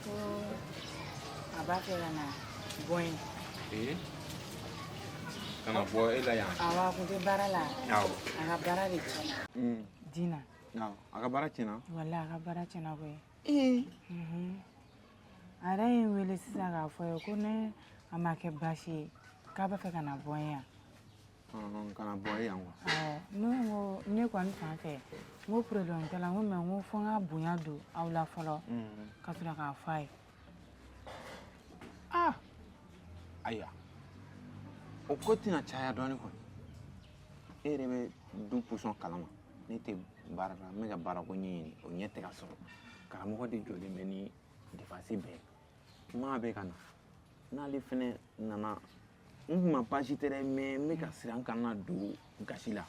ko a b'a fɛ ka na bɔ yen ee ka na bɔ e la yan awa a kun tɛ baara la awɔ a ka baara de tiɲɛna Mm, dina awɔ. a ka baara tiɲɛna wala a ka baara tiɲɛna koyi ee Mhm. a yɛrɛ ye n wele sisan k'a fɔ n ye ko ni a ma kɛ baasi ye k'a b'a fɛ ka na bɔ n yan Ɔn, Ka na bɔ e yan wa. Awɔ, ne ko n ko ne kɔni fan fɛ n ko problème t'a la n ko mais n ko fo n ka bonya don aw la fɔlɔ ka sɔrɔ k'a fɔ a ye ah Ayiwa, o ko tɛna caya dɔɔni kɔni. E yɛrɛ bɛ du position kalama. Ne tɛ baara la, n bɛ ka baarako ɲɛɲini, o ɲɛ tɛ ka sɔrɔ. Karamɔgɔ de jɔlen bɛ ni depansi bɛɛ ye. maa bɛ ka na n'ale fɛnɛ nana n kun ma baasi tɛ dɛ mais n bɛ ka siran kana don gasi la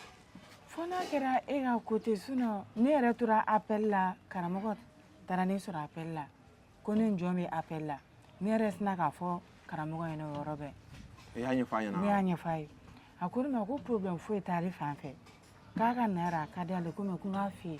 fo n'a kɛra e ka côté sinon ne yɛrɛ tora appel la karamɔgɔ taara ne sɔrɔ appel la ko ne ni jɔn bɛ appel la ne yɛrɛ sina k'a fɔ karamɔgɔ ɲɛna o yɔrɔ bɛɛ i y'a ɲɛfɔ a ɲɛna ne y'a ɲɛfɔ a ye a ko ne ma ko problème foyi t'ale fan fɛ k'a ka na yɛrɛ a ka d'ale ko mais ko n k'a f'i ye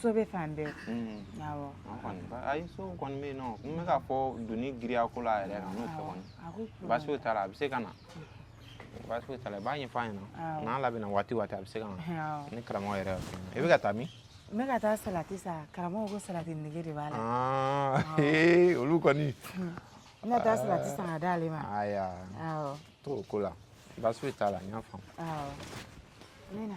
so bɛ fan bɛɛ awɔ an kɔni ayi so kɔni bɛ yen non n bɛ k'a fɔ doni giriya ko la yɛrɛ kan n'o tɛ kɔni baasi foyi t'a la a bɛ se ka na baasi foyi t'a la i b'a ɲɛfɔ a ɲɛna n'a labɛnna waati o waati a bɛ se ka na ni karamɔgɔ yɛrɛ i bɛ ka taa min n bɛ ka taa salati san karamɔgɔ ko salati nege de b'a la olu kɔni n bɛ taa salati san ka d'ale ma ayiwa to o ko la baasi foyi t'a la n y'a faamu awɔ n bɛ na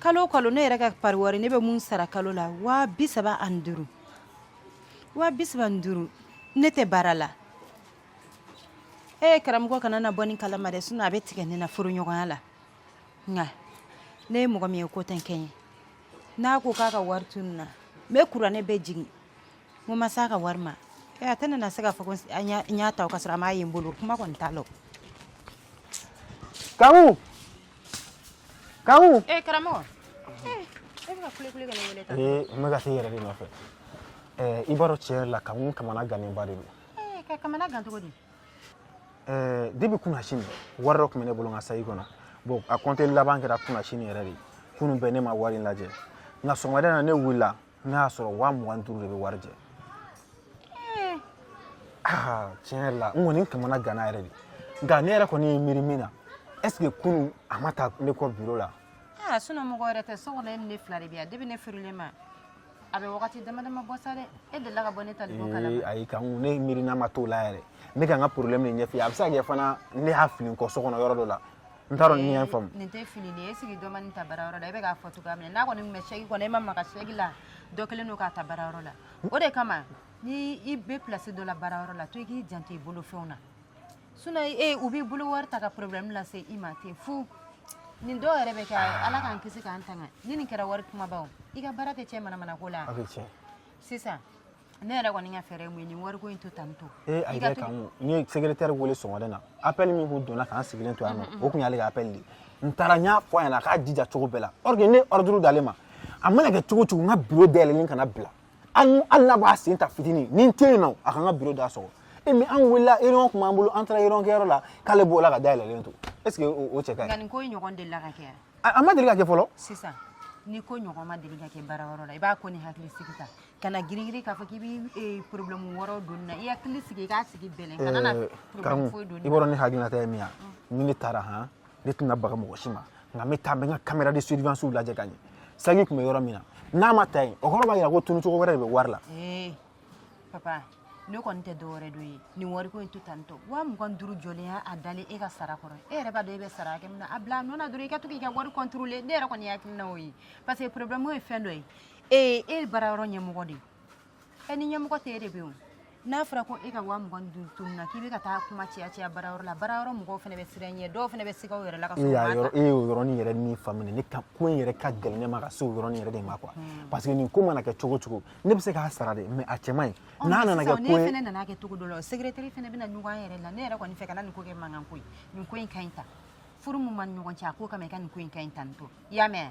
kalo o kalo ne yɛrɛ ka pari wari ne bɛ mun sara kalo la waa bi saba ani duuru waa bi saba ni duuru ne tɛ baara la e karamɔgɔ kana na bɔ nin kalama dɛ sinon a bɛ tigɛ ne na furuɲɔgɔnya la nka ne ye mɔgɔ min ye ko tɛ n kɛ n ye n'a ko k'a ka wari tununna n bɛ kuranɛ bɛɛ jigin ko n ma se a ka wari ma e a tɛna na se k'a fɔ ko a n y'a- n y'a ta o ka sɔrɔ a m'a ye n bolo kuma kɔni t'a la o. Kamu, Ka e karamɔgɔ e bɛ kule kule n bɛ ka taa i yɛrɛ de nɔfɛ i b'a dɔn tiɲɛ yɛrɛ la Kamu kamana gannenba de don ka kamana gan cogo di depuis kunasini wari dɔ tun bɛ ne bolo n ka saki kɔnɔ bon a kɔnte laban kɛra kunasini yɛrɛ de kunun bɛɛ ne ma wari in lajɛ nka sɔgɔmada in na ne wulila ne y'a sɔrɔ waa mugan ni duuru de bɛ wari jɛ aa tiɲɛ yɛrɛ la n kɔni kamana ganna yɛrɛ de nka ne yɛrɛ kɔni ye miiri min na est-ce que kunun a ma taa ne kɔ biro la aa sinon mɔgɔ wɛrɛ tɛ so kɔnɔ e ni ne fila de bɛ yan depuis ne furulen ma a bɛ wagati dama dama bɔ sa dɛ e delila ka bɔ ne tali bɔ ee kalama ayi Kamu ne miirina ma taa o la yɛrɛ ne ka n ka problème de ɲɛf'i ye a bɛ se ka kɛ fana ne y'a fili n kɔ so kɔnɔ yɔrɔ dɔ la n t'a dɔn n'i y'a faamu nin tɛ fini nin ye sigi dɔ ma nin ta baara yɔrɔ la i bɛ k'a fɔ cogoya min n'a kɔni bɛ saki kɔnɔ e ma maga saki la dɔ kɛlen don k'a ta baara yɔrɔ la o de kama ni i bɛ pilasi dɔ la baara yɔrɔ la to i k'i janto i bolo fɛnw na sinɔn e u b'i bolo wari ta ka porobilɛmu lase i ma ten fu nin dɔw yɛrɛ bɛ kɛ ala k'an kisi k'an tanga ni nin kɛra wari kumabaw i ka baara tɛ tiɲɛ manamanako la sisan ne yɛrɛ kɔni ka fɛɛrɛ min ye nin wariko in to tan to ee a yɛrɛ kan n ye secrétaire wele sɔgɔmada na appel min kun donna k'an sigilen to yan nɔ o kun y'ale ka appel de n taara n y'a fɔ a ɲɛna a k'a jija cogo bɛɛ la or que ne ordre d'ale ma a mana kɛ cogo cogo n ka bureau dayɛlɛlen kana bila hali n'a b'a sen ta fitinin ni n tɛ yen nɔ a ka n ka bureau da sɔgɔ mais an wulila réunion tun b'an bolo an taara réunion kɛyɔrɔ la k'ale bɔla k'a dayɛlɛlen to est ce que o cɛ ka ɲi nka nin ko in ɲɔgɔn delila ka kɛ a ma deli ka kɛ fɔlɔ sisan ni ko ɲɔgɔn ma deli ka kɛ baarayɔrɔ la i b'a ko ni hakilisigi ta kana girigiri k'a fɔ k'i bɛ eh, problème wɛrɛw don na i hakili sigi i k'a sigi bɛlɛn kana na eh, problème foyi don i b'a dɔn ne hakilinata ye min ye mm. ni ne taara han ne tɛna baga mɔgɔ si ma nka n bɛ taa n bɛ n ka caméra de surveillance lajɛ ka ɲɛ saki tun bɛ yɔrɔ min na n'a ma ta yen o kɔrɔ b'a jira ko tunu cogo wɛrɛ de bɛ wari la eh, papa ne kɔni tɛ dɔwɛrɛ dɔn ye nin wariko in to tan tɔ waa mugan ni duuru joli y'a a dalen e ka sara kɔrɔ e yɛrɛ b'a dɔn e bɛ sara hakɛ min na a bila a nɔ na dɔrɔn i ka to k'i ka wari kɔntorole ne yɛrɛ kɔni hakilina o ye parce que problème ye fɛn dɔ ye ee e ye baara yɔrɔ ɲɛmɔgɔ de ye ɛ ni ɲɛmɔgɔ tɛ e de bɛ yen o n'a fɔra ko e ka waa mugan ni duuru tununna k'i bɛ ka taa kuma caya caya baara yɔrɔ la baara yɔrɔ mɔgɔw fana bɛ siran ɲɛ dɔw fana bɛ siga u yɛrɛ la k'a sɔrɔ u y'a m'a yɔrɔ ta e y'o yɔrɔnin yɛrɛ min faamu ne k'a ko in yɛrɛ ka gɛlɛn ne ma ka se o yɔrɔnin yɛrɛ de ma quoi parce que nin ko mana kɛ cogo cogo ne bɛ se k'a sara de mais a cɛ man ɲi Ɔ, n'a nana sisan kɛ ne ko ye fana nana kɛ cogo dɔ la o secrétaire fana bɛna ɲɔgɔn an yɛrɛ la ne yɛrɛ kɔni fɛ kana nin ko kɛ mankan ko ye nin ko in ka ɲi tan furu min b'an ni ɲɔgɔn cɛ a ko kama i ka nin ko in ka ɲi tan nin to i y'a mɛn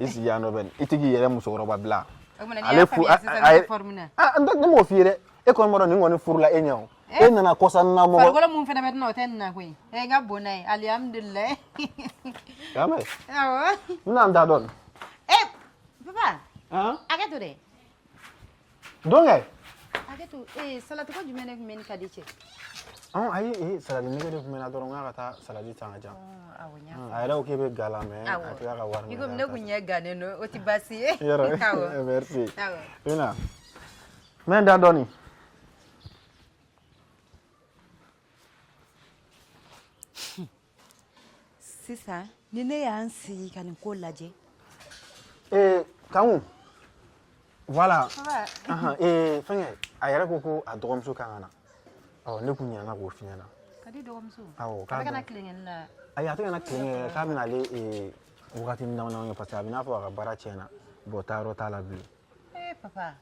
i sigi yan nɔ bɛ i tɛ k'i yɛrɛ musokɔrɔba bila ale fu a ye n tɛ ne m'o f'i ye dɛ e kɔni b'a dɔn ne kɔni furula e ɲɛ o eh? e nana kɔsa na mɔgɔ farikolo mun fana bɛ tɛna o tɛ ne na koyi ɛ eh, n ka bon n'a ye alihamudulilayi y'a mɛn awɔ n bɛna n da dɔɔni papa hakɛ to dɛ Don kɛ. Hakɛ to ee salati ko jumɛn de tun b'e ni Kadi cɛ. Ɔn ayi ee salati nege de tun bɛ n na dɔrɔn n k'a ka taa salati san ka di yan. Awɔ n y'a faamu. A yɛrɛ ko k'e bɛ ga la mais a tila ka wari minɛ. I komi ne kun ɲɛ gannen don o tɛ baasi ye. Yɔrɔ awɔ merci. Awɔ. I na. N bɛ n da dɔɔni. sisan ni ne y'an sigi ka nin ko lajɛ ee kanku voilà ahan ee fɛnkɛ a yɛrɛ ko ko a dɔgɔmuso kan ka na ɔ ne kun ɲinɛna k'o f'i ɲɛna kadi dɔgɔmuso awɔ k'a ka na tilenkɛni na ayi a tɛ ka na tilenkɛ k'a bɛna ale ee wagatinin damanin kɛ parce que a bɛ n'a fɔ a ka baara tiɲɛna bon taayɔrɔ t'a la bilen ee papa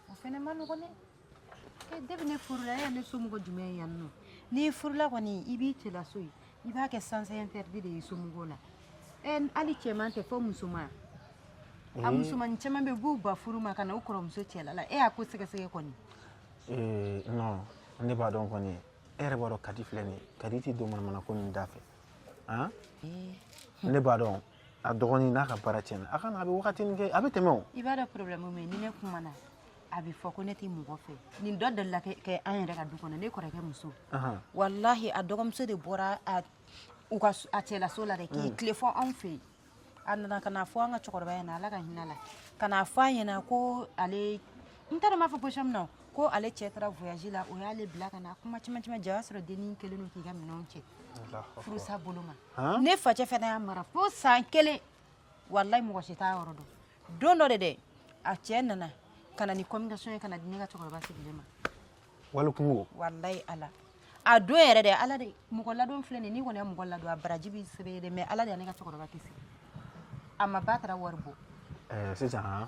o fana man nɔgɔn dɛ depuis ne furula e ye ne somɔgɔ jumɛn ye yan nɔ n'i furula kɔni i b'i cɛlaso ye i b'a kɛ sens interdit de ye somɔgɔw la ɛ hali cɛman tɛ fɔ musoman a musomannin caman bɛ yen u b'u ban furu ma ka na u kɔrɔmuso cɛla la e y'a ko sɛgɛsɛgɛ kɔni ee non ne b'a dɔn kɔni e yɛrɛ b'a dɔn kadi filɛ nin ye kadi tɛ don manamana ko nin da fɛ han ne b'a dɔn a dɔgɔnin n'a ka baara tiɲɛna a ka na a bɛ wagatinin kɛ a bɛ tɛmɛ o i b'a dɔn problème min ye ni ne kumana a bɛ fɔ ko ne tɛ mɔgɔ fɛ nin dɔ delila ka kɛ an yɛrɛ ka du kɔnɔ ne kɔrɔkɛ muso Ahan. walahi a dɔgɔmuso de bɔra a u ka s- a cɛlaso la dɛ k'i Mm. tilen fo anw fɛ yen a nana ka n'a fɔ an ka cɛkɔrɔba ɲɛna ala ka hinɛ a la ka n'a fɔ a ɲɛna ko ale n t'a dɔn n b'a fɔ position min na ko ale cɛ taara voyage la o y'ale bila ka na kuma caman caman jɛ o y'a sɔrɔ dennin kɛlen don k'i ka minɛnw cɛ furusa bolo ma ne facɛ fana y'a mara fo san kelen walayi mɔgɔ si t'a yɔrɔ dɔn don dɔ de dɛ a cɛ nana ka na ni convocation ye ka na di ne ka cɛkɔrɔba sigilen ma wali kunko walayi ala a don yɛrɛ dɛ ala de mɔgɔ ladon filɛ nin n'i kɔni ye mɔgɔ ladon a baraji b'i sɛbɛ ye dɛ mais ala de ye ne ka cɛkɔrɔba kisi a ma ba taara wari bɔ eh, sisan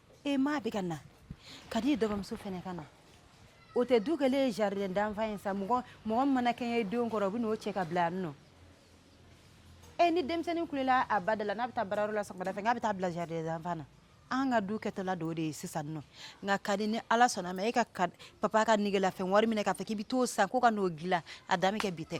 e ma bɛ ka na kadi dɔgɔmuso fana ka na o tɛ du kɛlen ye jardin d'enfant ye sa mɔgɔ mɔgɔ min mana kɛɲɛ denw kɔrɔ u bɛ n'o cɛ ka bila yan nɔ e ni denmisɛnnin kulela a ba da la n'a bɛ taa baarayɔrɔ la sɔgɔmada fɛ k'a bɛ taa bila jardin d'enfant na an ka du kɛtɔla dɔ de ye sisan nɔ nka kadi ni ala sɔnna ma e ka ka- papa ka negelafɛn wari minɛ k'a fɔ k'i bɛ t'o san ko ka n'o dilan a dan bɛ kɛ bi tɛ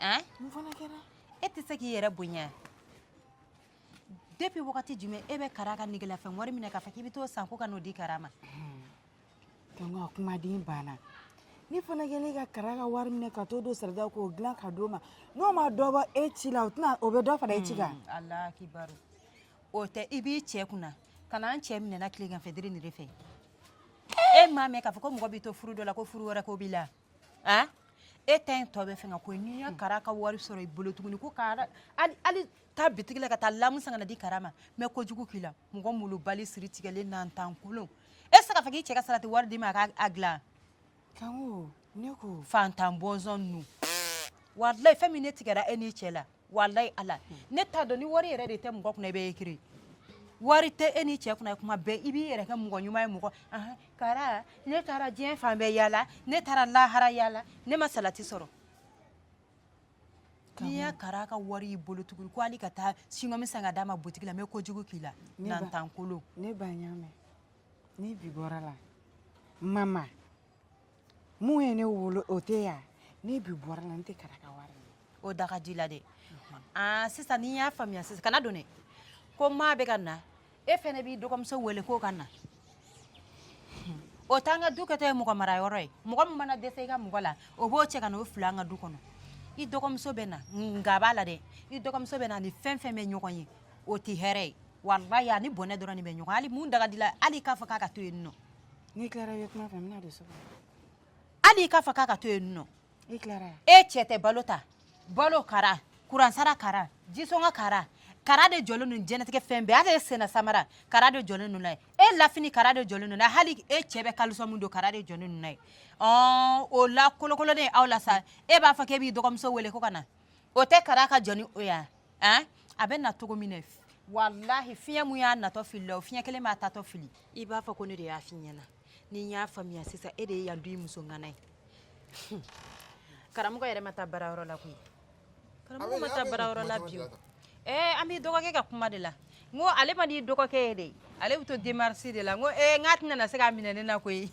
An mun fana kɛra e tɛ se k'i yɛrɛ bonya depuis wagati jumɛn e bɛ Kara ka negelafɛn wari minɛ k'a fɔ k'i bɛ t'o san ko ka n'o di Kara ma Tɔnɔ kumaden banna ne fana kɛlen ka Kara ka wari minɛ ka t'o don salati la k'o dilan ka d'o ma n'o ma dɔ bɔ e ci la o tɛna o bɛ dɔ fara e ci kan Ala kibaru o tɛ i b'i cɛ kunna ka na an cɛ minɛna tilegan fɛ dere nin de fɛ e m'a mɛn k'a fɔ ko mɔgɔ b'i to furu dɔ la ko furu wɛrɛ ko b'i la an e ta in tɔ bɛ fɛn na koyi ni n ye kara ka wari sɔrɔ i bolo tuguni ko kara hali taa bitigi la ka taa lamu san ka na di kara ma n bɛ kojugu k'i la mɔgɔ malobali siri tigɛlen nantan kolon e tɛ se k'a fɔ k'i cɛ ka salati wari d'i ma a k'a dilan kan ko ne ko fantan bɔnsɔn ninnu walayi fɛn min ne tigɛra e n'i cɛ la walayi ala ne t'a dɔn ni wari yɛrɛ de tɛ mɔgɔ kunna i bɛ ekiri wari tɛ e n'i cɛ kunna kuma bɛɛ i b'i yɛrɛ kɛ mɔgɔ ɲuman ye mɔgɔ ahan, kara ne taara diɲɛ fan bɛɛ yaala ne taara lahara yaala ne ma salati sɔrɔ ni n ye kara ka wari y'i bolo tuguni ko hali ka taa singɔmi san ka d'a ma butigi la n bɛ kojugu k'i la Ne ba- nantan kolon ne ba n y'a mɛn ni bi bɔra la mama min ye ne wolo o tɛ yan ni bi bɔra a la n tɛ kara ka wari ye o da ka di la dɛ aa sisan n'i y'a faamuya sisan kana don dɛ ko maa bɛ ka na e fɛnɛ b'i dɔgɔmuso wele k'o ka na o t'an ka du kɛtɔ ye mɔgɔ marayɔrɔ ye mɔgɔ min mana dɛsɛ i ka mɔgɔ la o b'o cɛ ka na o fili an ka du kɔnɔ i dɔgɔmuso bɛ na nka a b'a la dɛ i dɔgɔmuso bɛ na ni fɛn fɛn bɛ ɲɔgɔn ye o tɛ hɛrɛ ye walayi a ni bɔnɛ dɔrɔn de bɛ ɲɔgɔn hali mun daga di la hali k'a fɔ k'a ka to yen nɔ N'i tilara i bɛ kuma fɛ n bɛna don so kɔnɔ. Hali i k'a fɔ k'a ka to yen nɔ. I tilara yan. E cɛ tɛ balo ta. Balo kara, kuransara kara, jisɔngɔ kara, kara de jɔlen don diɲɛlatigɛ fɛn bɛɛ hali e sennasamara kara de jɔlen don n'a ye, e lafini kara de jɔlen don n'a ye, hali e cɛ bɛ caleçon min don kara de jɔlen don n'a ye, ɔɔ o lakolokololen aw la sa, e b'a fɔ k'e b'i dɔgɔmuso wele ko ka na, o tɛ kara ka jɔ ni o ye wa An a bɛ na cogo min na walahi fiɲɛ min y'a natɔ fili la o fiɲɛ kelen b'a taatɔ fili i b'a fɔ ko ne de y'a fɔ i ɲɛna n'i y'a faamuya sisan e de ye yan du in muso ŋana ye hun karamɔgɔ yɛrɛ ma taa baarayɔrɔ la koyi karamɔgɔ ma taa baarayɔrɔ la bi o ee an b'i dɔgɔkɛ ka kuma de la n ko ale man d'i dɔgɔkɛ ye de ale bɛ to demarche de la n ko ee n k'a tɛna se k'a minɛ ne na koyi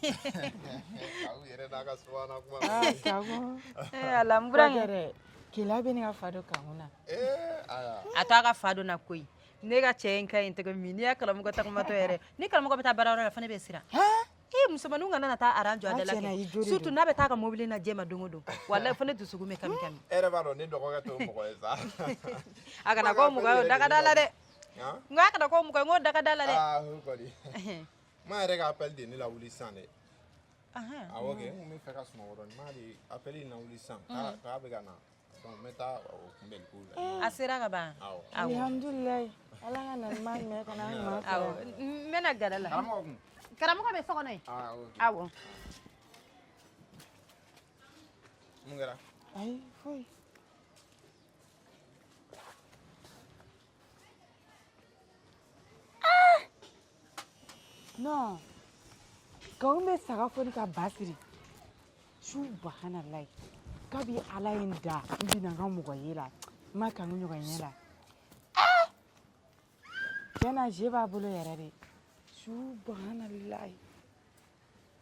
ee Ala n burankɛ Keleya bɛ ne ka fa don kana a to a ka fa don na koyi ne ka cɛ in ka ɲi tɛgɛ min n'i ye karamɔgɔ taamatɔ yɛrɛ ni karamɔgɔ bɛ taa baarayɔrɔ la fana ne bɛ siran e musomanninw kana na taa rang jɔ a da la surtout n'a bɛ taa ka mobili na jɛ ma don o don walayi fo ne dusukun bɛ kami kami e yɛrɛ b'a dɔn ne dɔgɔkɛ t'o mɔgɔ ye sa a kana k'o mɔgɔ ye o dagada la dɛ n ko a kana k'o mɔgɔ ye dagada la dɛ a ok n bɛ fɛ ka sumaworo ɲuman de a bɛ na wuli san k'a bɛ ka na n bɛ taa la a sera ka ban n bɛna gɛrɛ la karamɔgɔ bɛ so kɔnɔ aw mun kɛra ayi foyi non k'aw bɛ saga foni ka ba siri subahanalayi kabi ala ye n da n bina n ka mɔgɔya la n ma kanu ɲɔgɔn ye la Ah! tiɲɛ na jo b'a bolo yɛrɛ de subahanalayi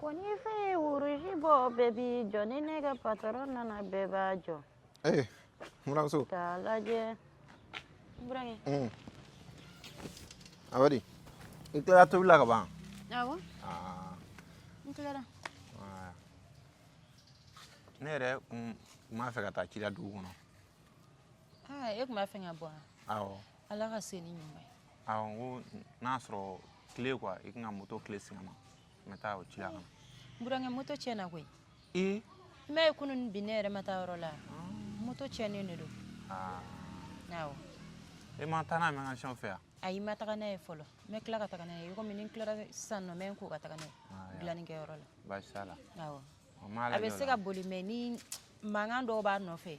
ko ni feu ye rouge bɔ bɛɛ b'i jɔ ni ne ka patɔrɔn nana bɛɛ b'a jɔ ee buranmuso k'a lajɛ burankɛ mm. a bɛ di i tilara tobili la ka ban awɔ ah. n tilara ne yɛrɛ kun b'a fɛ ka taa ci la dugu kɔnɔ e tun b'a fɛ ka bɔ wa awɔ ala ka se ni ɲuman ye awɔ n ko n'a sɔrɔ kile kuwa i k'an ka moto kile singa n ma n bɛ taa o ci la ka na burankɛ moto tiɲɛna koyi ee i m'a ye kunu ni bi ne yɛrɛ ma taa yɔrɔ la moto tiɲɛnen de don aa awɔ e ma taa n'a ye mekanisiyɛnw fɛ yan ayi n ma taga n'a ye fɔlɔ n bɛ tila ka taga n'a ye i komi ni n tilara sisan nɔ n bɛ n ko ka taga n'a ye Ah, ya. dilannikɛyɔrɔ la baasi t'a la awɔ n b'a a lajɛ bɛ o se la ka boli mɛ ni mankan dɔw b'a nɔfɛ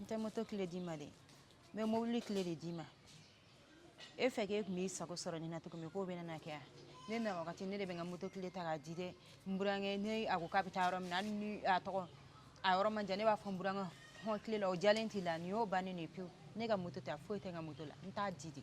n tɛ moto kile d'i ma dɛ n bɛ mobili kile de d'i ma e fɛ k'e tun b'i sago sɔrɔ nin na cogo min k'o bɛna na kɛ yan ne na wagati ne de bɛ n ka moto kile ta k'a di dɛ n burankɛ ne a ko k'a bɛ taa yɔrɔ min na hali ni a tɔgɔ a yɔrɔ man jan ne b'a fɔ n burankɛ hɔn kile la o jalen t'i la nin y'o bannen de ye pewu ne ka moto tɛ foyi tɛ n ka moto la n t'a di de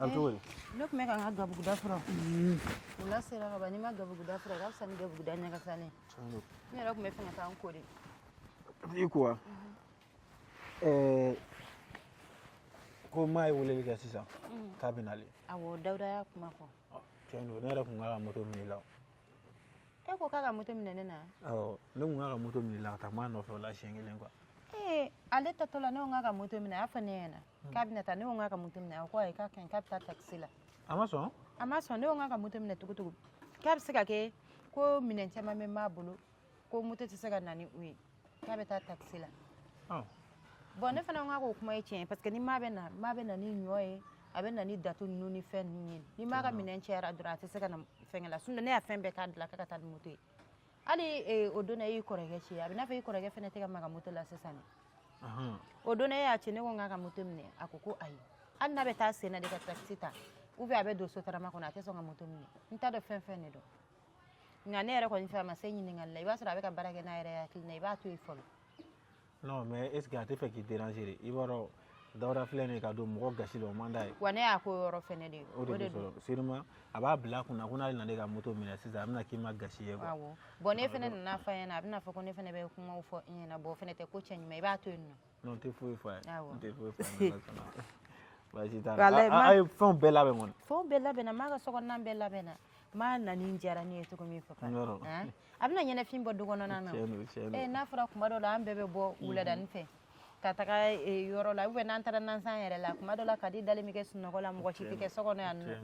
A bɛ cogo di ne tun bɛ ka n ka gabuguda furan wula sera ka ban n'i ma gabuguda furan ka fisa ni gabuguda ɲagasalen ne yɛrɛ tun bɛ fɛ ka taa n ko de i ko wa ɛɛ ko maa ye weleli kɛ sisan k'a bɛ nalen awɔ dawuda y'a kuma fɔ tiɲɛ don ne yɛrɛ ko n k'a ka moto minɛ i la e ko k'a ka moto minɛ ne na awɔ ne ko k'a ka moto minɛ i la ka taa maa nɔfɛ o la siɲɛ kelen kuwa ee ale taatɔ la ne ko k'a ka moto minɛ a y'a fɔ ne ɲɛna k'a bɛna taa ne ko k'a ka moto minɛ a ko ayi k'a ka ɲi k'a bɛ taa takisi la a ma sɔn a ma sɔn ne ko k'a ka moto minɛ tugutugu k'a bɛ se ka kɛ ko minɛn caman bɛ maa bolo ko moto tɛ se ka na ni u ye k'a bɛ taa takisi la bɔn ne fana ko k'o kuma ye tiɲɛ ye parce que ni maa bɛ na maa bɛ na ni ɲɔ ye a bɛ na ni datu ninnu ni fɛn ninnu ye ni maa ka minɛn cayara dɔrɔn a tɛ se ka na fɛngɛ la sinon ne y'a fɛn bɛɛ k'a dilan k'a ka taa ni moto ye hali eh, o don na e y'i kɔrɔkɛ ci a bɛ n'a fɔ i kɔrɔkɛ fana tɛ ka maga moto la sisan dɛ o don na e y'a ci ne ko n k'a ka moto minɛ a ko ko ayi hali n'a bɛ taa sen na de ka takisi ta ou bien a bɛ don sotarama kɔnɔ a tɛ sɔn ka moto minɛ n t'a dɔn fɛn fɛn de don nka ne yɛrɛ kɔni fɛ a ma se ɲininkali la i b'a sɔrɔ a bɛ ka baara kɛ n'a yɛrɛ hakilina i b'a to yen fɔlɔ non mais est ce que a tɛ fɛ k'i déranger de i b'a dɔn dawuda filɛ nin ye ka don mɔgɔ gasi la o man d'a ye wa ne y'a ko yɔrɔ fɛnɛ de ye o de don sûrement a b'a bila a kun na ko n'ale nana e ka moto minɛ sisan a bɛna k'i ma gasi ye quoi awɔ bon ne fɛnɛ nana fɔ a ɲɛna a bɛna fɔ ko ne fɛnɛ bɛ kumaw fɔ i ɲɛna bon o fɛnɛ tɛ ko cɛ ɲuman i b'a to yen nɔ n tɛ foyi fɔ a ye n tɛ foyi fɔ a ye baasi t'a la a ye fɛnw bɛɛ labɛn kɔni fɛnw bɛɛ labɛnna maa ka sokɔnɔna bɛɛ labɛnna maa nani diyara ne ye cogo min papa a bɛna ɲɛnafin bɔ du kɔnɔna na eh, n'a fɔra kuma dɔ la an bɛɛ bɛ bɔ mhm. wuladani fɛ ka taga eh, yɔrɔ la ubiyɛn n'an taara nansan yɛrɛ la kuma dɔ la kadi dalen bɛ kɛ sunɔgɔ la mɔgɔ si tɛ kɛ so kɔnɔ yan nɔ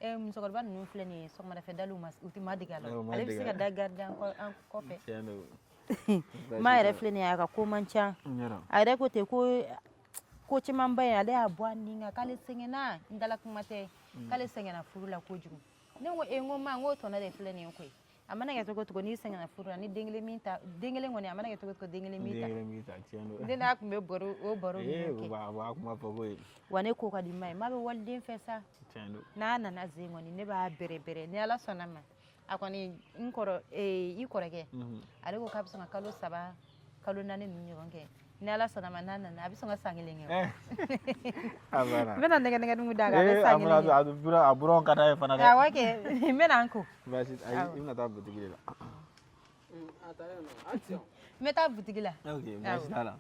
Eh, musokɔrɔba ninnu filɛ nin ye sɔgɔmadafɛ daliw ma u tɛ ma dege a la Awɔ, u ma ale bɛ se dege a ka la. da garidi an kɔ- an kɔfɛ Tiɲɛ don. ma yɛrɛ filɛ nin ye a ka ko man ca N y'a dɔn. a yɛrɛ ko ten ko ko camanba in ale y'a bɔ a ni kan k'ale sɛgɛnna n dala kuma tɛ k'ale sɛgɛnna furu la kojugu ne ko e n ko ma n ko tɔnɔ de filɛ nin ye koyi a mana kɛ cogo cogo n'i sɛgɛnna furu la ni den kelen min ta den kelen kɔni a mana kɛ cogo cogo den kelen min ta den kelen min ta tiɲɛ don den n'a tun bɛ baro o baro ninnu kɛ a b'a kuma fɔ ko ye wa ne ko ka di ma ye ma bɛ waliden fɛ sa tiɲɛ don n'a nana zen kɔni ne b'a bɛrɛ bɛrɛ ni ala sɔnna ma a kɔni n kɔrɔ ee i kɔrɔkɛ ale ko k'a bɛ sɔn ka kalo saba kalo naani ninnu ɲɔgɔn kɛ ni ala sɔnna ma n'a nana a bɛ sɔn ka san kelen kɛ eh. a banna n bɛna nɛgɛnɛgɛ dugu d'a kan a bɛ eh, san kelen kɛ a bɛ a buran ka d'a ye fana dɛ awɔ kɛ n bɛna n ko baasi ayi i bɛna taa butigi de la mm, n bɛ taa butigi la ok baasi t'a la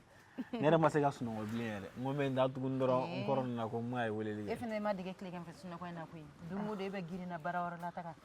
ne yɛrɛ ma se ka sunɔgɔ bilen yɛrɛ n ko n bɛ n da tuguni dɔrɔn n eh. kɔrɔ nana ko ma ye weleli kɛ e fana ma dege tilegan fɛ sunɔgɔ in na koyi don o don e bɛ girinna baarayɔrɔ la taga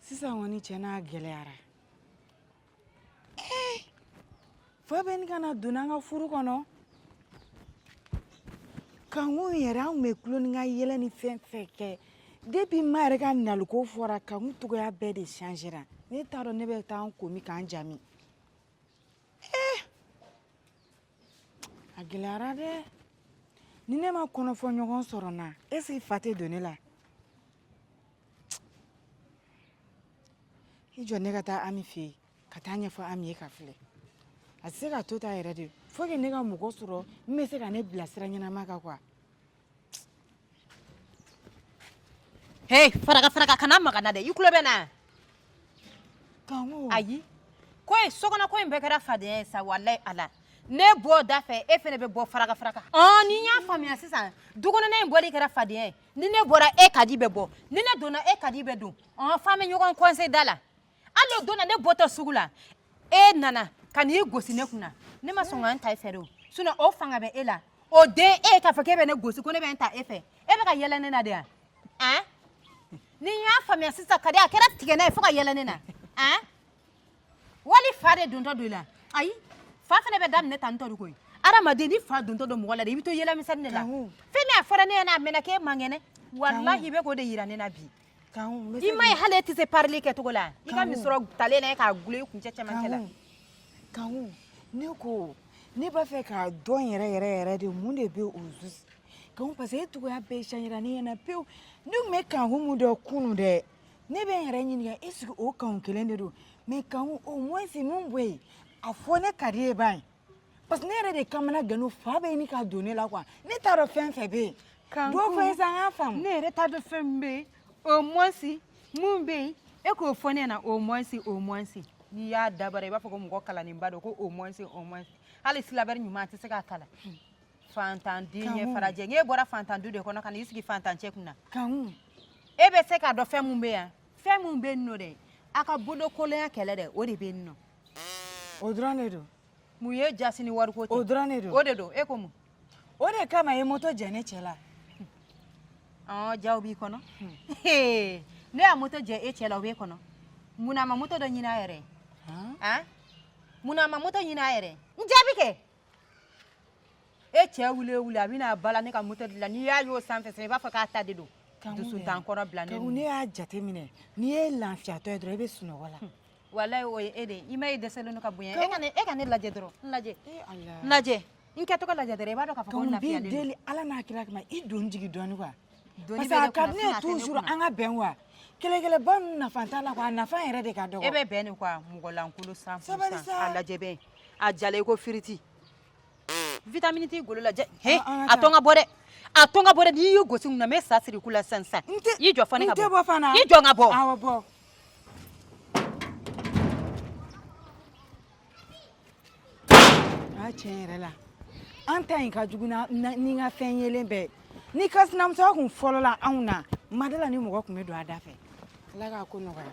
sisan kɔni cɛ n'a gɛlɛyara ee eh, fa bɛ ɲini ka na don an ka furu kɔnɔ kanku yɛrɛ an kun bɛ tulon ni ka yɛlɛ ni fɛn fɛn kɛ depuis ma yɛrɛ ka naliko fɔra kanku cogoya bɛɛ de changera ne t'a dɔn ne bɛ taa an komi k'an jami ee eh, a gɛlɛyara dɛ ni ne ma kɔnɔfɔɲɔgɔn sɔrɔ n na est-ce que fa tɛ don ne la i jɔ ne ka taa ami fɛ yen ka taa a ɲɛfɔ ami ye ka filɛ a tɛ se ka to tan yɛrɛ dɛ faut que ne ka mɔgɔ sɔrɔ min bɛ se ka ne bilasira ɲɛnama kan quoi he faraka faraka kana maga n na dɛ i tulo bɛ n na kanku ayi koyi sokɔnɔ ko in bɛɛ kɛra fadenya ye sa walayi ala ne bɔ da fɛ e fɛnɛ bɛ bɔ faraka faraka ɔn ni n y'a faamuya sisan dukɔnɔna in bɔli kɛra fadenya ye ni ne bɔra e kadi bɛ bɔ ni ne donna e kadi bɛ don ɔn f'an bɛ ɲɔgɔn coincer da la hali o don na ne bɔtɔ sugu la e nana ka n'i gosi ne kunna ne ma sɔn ka n ta i fɛ de o sinon o fanga bɛ e la o den e k'a fɔ k'e bɛ ne gosi ko ne bɛ n ta e fɛ e bɛ ka yɛlɛ ne na de wa an ni n y'a faamuya sisan kadi a kɛra tigɛ n'a ye fo ka yɛlɛ ne na an wali fa de dontɔ don i la ayi fa fana bɛ daminɛ tan tɔ de koyi adamaden ni fa dontɔ don mɔgɔ la de i bɛ to yɛlɛmisɛnni de la fɛn min a fɔra ne ɲɛna a mɛnna k'e man kɛnɛ walahi i bɛ k'o de yira ne na bi i ma ye hali e tɛ se parili kɛcogo la i ka misɔrɔ talen na e k'a gulo i kuncɛ cɛmancɛ la kanku ne ko ne b'a fɛ k'a dɔn yɛrɛ yɛrɛ yɛrɛ de mun de bɛ au juste kanku parce que e cogoya bɛɛ changera ne ɲɛna pewu ne tun bɛ kanku min dɔn kunu dɛ ne bɛ n yɛrɛ ɲininka est ce que o kanku kelen de don mais kanku au moins mun bɛ yen a fɔ ne ka di ye ba ye parce que ne yɛrɛ de kamana gannen don fa bɛ ɲini ka don ne la quoi ne t'a dɔn fɛn fɛn bɛ yen dɔ fɔ n ye sa n k'a faamu ne yɛrɛ t'a dɔn fɛn min bɛ yen au moins mun bɛ yen e k'o fɔ ne ɲɛna au moins au moins n'i y'a dabara i b'a fɔ ko mɔgɔ kalannenba don ko au moins au moins hali syllabaire ɲuman a tɛ se k'a kalan Fantan den ye farajɛ n'e bɔra fantan du de kɔnɔ ka n'i sigi fantan cɛ kunna kanku e bɛ se k'a dɔn fɛn min bɛ yan fɛn min bɛ yen nɔ dɛ a ka bolokolonya kɛlɛ dɛ o de bɛ yen nɔ o dɔrɔn de don mun ye jasi ni wariko tɛ o dɔrɔn de don o de don e ko mun o de kama i ye moto jɛ ne cɛ la ɔ jaa o b'i kɔnɔ ne y'a moto jɛ e cɛ la o b'e kɔnɔ mun na a ma moto dɔ ɲini a yɛrɛ ye mun na a ma moto ɲini a yɛrɛ ye n jaabi kɛ e cɛ wuli wuli a bɛna bala ne ka moto de la n'i y'a y'o sanfɛ i b'a fɔ k'a ta de don dusuntan kɔrɔ bila ne ne y'a jateminɛ n'i ye lafiyatɔ ye dɔrɔn i bɛ sunɔgɔ la walayi o ye e de i ma ye dɛsɛlen don ka bonya e ka ne e ka ne lajɛ dɔrɔn n lajɛ n lajɛ n kɛcogo lajɛ dɔrɔn i b'a dɔn k'a fɔ ko n lafiyalen don deli ala n'a kira kama i don jigi dɔɔni quoi parce que a ka di ne ye toujours an ka bɛn quoi kɛlɛkɛlɛba ninnu nafa t'a la quoi a nafa yɛrɛ de ka dɔgɔ e bɛ bɛn de quoi mɔgɔlankolon cent pour cent a lajɛ bɛn a jalan i ko firiti vitamini t'i golo la jɛ he An- an ka a taa. to n ka bɔ dɛ a to n ka bɔ dɛ n'i y'u gosi mun na n bɛ sa siri ku la sisan sisan N tɛ- i jɔ fɔ ne ka n tɛ bɔ fana. i jɔ n ka bɔ Awɔ bɔ. A tiɲɛ yɛrɛ la an ta in ka jugu na- na- ni n ka fɛn yelen bɛɛ ye. ni ka sinamusoya kun fɔlɔla anw na mada la ni mɔgɔ kun bɛ don a da fɛ ala k'a ko nɔgɔya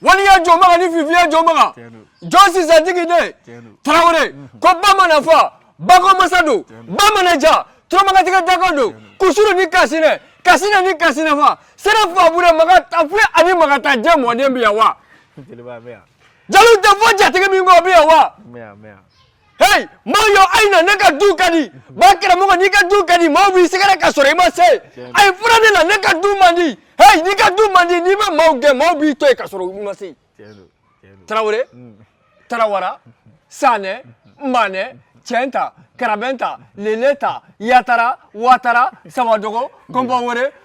wali ya jɔ maga ni fifi ya jɔ maga jɔn sisan tigi de tarawele ko ba mana fa bako masa don ba mana ja turamagan tigɛda ko don kusuru ni kasinɛ kasinɛ ni kasinɛ fa sera fa bure maga ta fi ani maga ta jɛ mɔden bi yan wa jeliw tɛ fɔ jatigi min kɔ bi yan wa Hey maayo a ye na ne ka du ka di ba karamɔgɔ n'i ka du ka di maaw b'i sɛgɛrɛ ka sɔrɔ i ma se a ye fara ne la ne ka du man di hey n'i ka du man di n'i ma maaw gɛn maaw b'i to yen ka sɔrɔ u ma se tarawele mm. tarawara sanɛ manɛ cɛnta karabɛnta leleta yatara watara sabadogo kɔnpawɛrɛ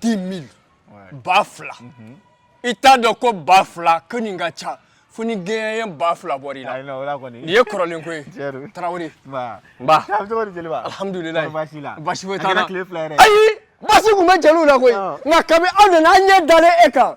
10 000 ba fila mhm. i t'a dɔn ko ba fila kɔni ka ca fo ni gɛnyɛnyɛ ba fila bɔra i la nin ye kɔrɔlen ko ye tarawele nba alhamdulilayi basi foyi t'a la ayi basi tun bɛ jeliw la koyi nka kabi aw nana an ɲɛ dalen e kan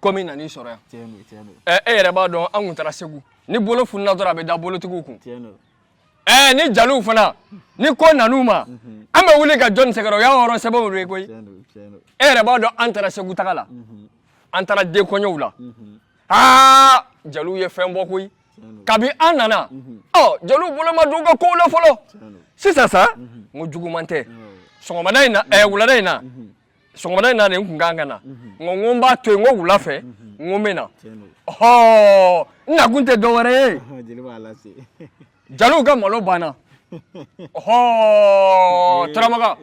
komi nan'i sɔrɔ yan tiɲɛ don tiɲɛ don ɛ e yɛrɛ b'a dɔn an kun taara segu ni bolo fununa dɔrɔn a bɛ da bolotigi kun tiɲɛ don ɛ ni jaliw fana ni ko nan'u ma an bɛ wuli ka jɔn sɛgɛrɛ o y'an hɔrɔn sɛbɛw de ye koyi tiɲɛ don tiɲɛ don e yɛrɛ b'a dɔn an taara segu taga la an taara den kɔɲɔw la aa jaliw ye fɛn bɔ koyi kabi an nana ɔ jaliw bolo ma don u ka ko la fɔlɔ tiɲɛ don sisan sa n ko juguman tɛ sɔgɔmada in na ɛ wulada in na sɔgɔmada in na de n kun kan ka na n ko n ko n b'a to yen n ko wula fɛ n ko n bɛ na ɔhɔɔ n nakun tɛ dɔ wɛrɛ ye jaliw ka malo banna ɔhɔɔ turamaga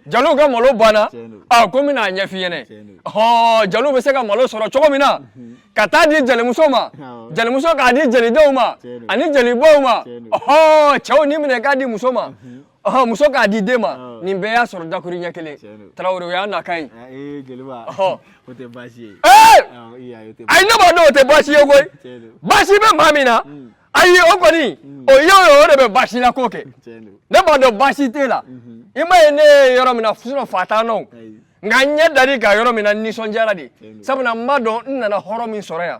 jaliw ka malo banna a ko n bɛna a ɲɛf'i ɲɛna ɔhɔɔ jaliw bɛ se ka malo sɔrɔ cogo min na ka taa di jalimuso ma jalimuso k'a di jalidenw ma ani jalibaw ma ɔhɔɔ cɛw nin minɛ k'a di muso ma ɔhɔn muso k'a di den ma Awɔ. nin bɛɛ y'a sɔrɔ dakuruɲɛ kelen Tiɲɛ don. tarawele o y'an nakan ye Ah, ee jeliba Ɔhɔ. o tɛ baasi ye ee Awɔ, i y'a ye, o tɛ ayi ne b'a dɔn o tɛ baasi ye koyi Tiɲɛ don. baasi bɛ maa min na ayi o kɔni o ye o ye o de bɛ baasi la ko kɛ Tiɲɛ don. ne b'a dɔn baasi t'e la i m'a ye ne ye yɔrɔ min na sinɔn fa t'an nɔ Ayi. nka n ɲɛ dar'i kan yɔrɔ min na n nisɔndiyara de Tiɲɛ don. sabula n b'a dɔn n nana hɔrɔn min sɔrɔ yan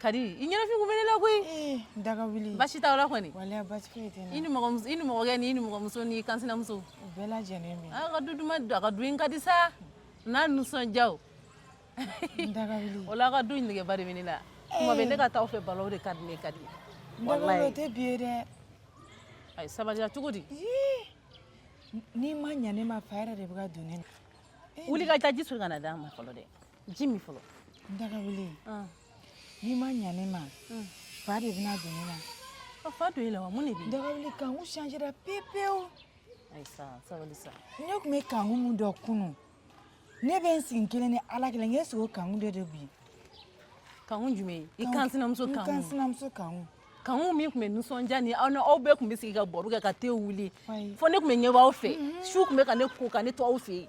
Kadi i ɲɛnafin kun bɛ ne la koyi eh, daga wuli baasi t'aw la kɔni wala baasi foyi tɛ i nimɔgɔmuso i nimɔgɔkɛ ni i nimɔgɔmuso n'i kansinamuso u bɛɛ lajɛlen bɛ a ka du duman a ka du in ka di sa n'a nisɔndiyaw daga wuli o la a ka du in negeba de bɛ ne la kuma bɛɛ ne ka taa aw fɛ baro de ka di ne Kadi daga wuli o tɛ bi ye dɛ ayi sabaliya cogo di n'i ma ɲa ne ma fa yɛrɛ de bɛ ka don ne na wuli ka taa ji soli ka na d'a ma fɔlɔ dɛ ji min fɔlɔ daga wuli n'i ma ɲa ne ma fa de bɛna don ne na a fa don e la wa mun de bɛ yen daga wuli kanku changera pepewu ayi sa sabali sa ne tun bɛ kanku min dɔn kunun ne bɛ n sigi kelen ni ala kelen k'e sigi o kanku de don bi kanku jumɛn i kansinamuso kanku n kansinamuso kanku kanku min tun bɛ nisɔndiya ni aw ni aw bɛɛ tun bɛ sigi ka baro kɛ ka te wuli fo ne tun bɛ ɲɛbɔ aw fɛ su tun bɛ ka ne ko ka ne to aw fɛ yen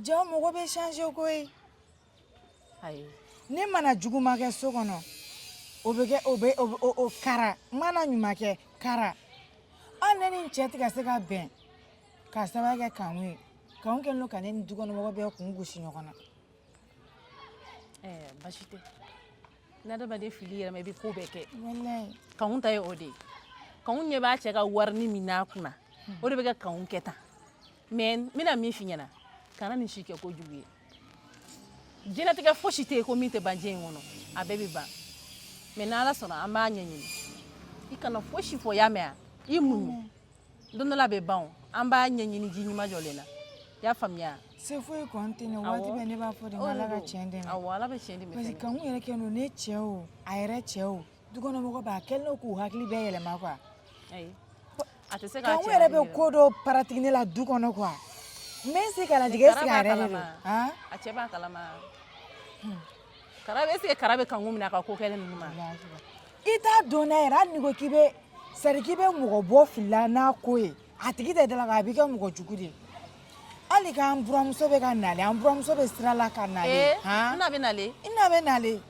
Jaa mɔgɔ bɛ changé koyi, ayi, ne mana juguman kɛ so kɔnɔ o bɛ kɛ o bɛ o kara n mana ɲuman kɛ kara hali ne ni n cɛ tɛ ka se ka bɛn k'a sababu kɛ Kanku ye Kanku kɛlen don ka ne ni dukɔnɔmɔgɔ bɛɛ kun gosi ɲɔgɔn na, ɛɛ baasi tɛ ni adamaden filila i yɛrɛ ma i bɛ ko bɛɛ kɛ, walayi, Kanku ta ye o de ye Kanku ɲɛ b'a cɛ ka warini min n'a kunna o de bɛ ka Kanku kɛ tan mais n bɛna min f'i ɲɛna kana nin si kɛ ko jugu ye diɲɛlatigɛ fosi tɛ yen ko min tɛ ban diɲɛ in kɔnɔ a bɛɛ bɛ ban mais n'ala sɔnna an b'a ɲɛɲini i kana fosi fɔ y'a mɛn i muɲu don dɔ la a bɛ ban an b'a ɲɛɲini ji ɲuman jɔlen na i y'a faamuya se foyi kɔni tɛ ne waati bɛɛ ne b'a fɔ de ala ka tiɲɛ dɛmɛ awɔ ala bɛ tiɲɛ dɛmɛ parce que kanku yɛrɛ kɛlen don ne cɛ o a yɛrɛ cɛ o dukɔnɔmɔgɔ bɛɛ a kɛlen don k'u hakili bɛɛ yɛlɛma quoi ayi a tɛ se ka kɛ kanku yɛrɛ bɛ ko dɔ pratiquer ne la du kɔnɔ quoi n bɛ n sigi k'a lajɛ est-ce que a yɛrɛ de don a cɛ b'a kalama kara est-ce que kara bɛ kanku minɛ a ka ko kɛlen ninnu ma i t'a dɔn n'a yɛrɛ hali n'i ko k'i bɛ c'est à dire k'i bɛ mɔgɔ bɔ fili la n'a ko ye a tigi tɛ dala kan a b'i kɛ mɔgɔ jugu de ye hali k'an buramuso bɛ ka nale an buramuso bɛ sira la ka nale han na bɛ nale i na bɛ nale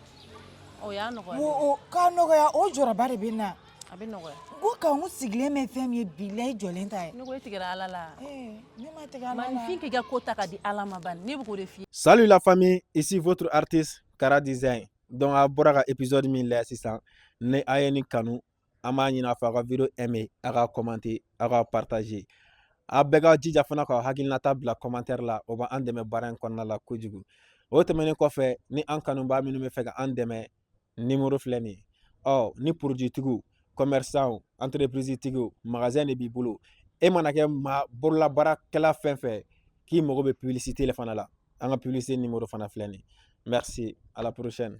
o y'a nɔgɔya o k'a nɔgɔya o jɔrɔba de bɛ n na a bɛ nɔgɔya ko kanku sigilen bɛ fɛn min ye bilayi jɔlen ta ye ne ko e tigɛra ala la ne ma tigɛ ala la maninfin k'i ka ko ta ka di ala ma bani ne bɛ k'o de f'i ye salut la famille ici votre artiste Kara Design donc a bɔra ka épisode min lajɛ sisan ni a ye nin kanu an b'a ɲini a fɛ a ka video aimer a ka commenter a ka partager a bɛɛ ka jija fana ka hakilinata bila commentaire la o bɛ an dɛmɛ baara in kɔnɔna la kojugu o tɛmɛnen kɔfɛ ni an kanubaa minnu b'a fɛ ka an dɛmɛ numéro filɛ nin ye ɔ ni produit tigiw commerçant entreprise tigiw magasin de b'i bolo e mana kɛ maa bololabaarakɛla fɛn fɛn k'i mago bɛ publicité la fana la an ka publicité numéro fana filɛ nin ye merci à la prochaine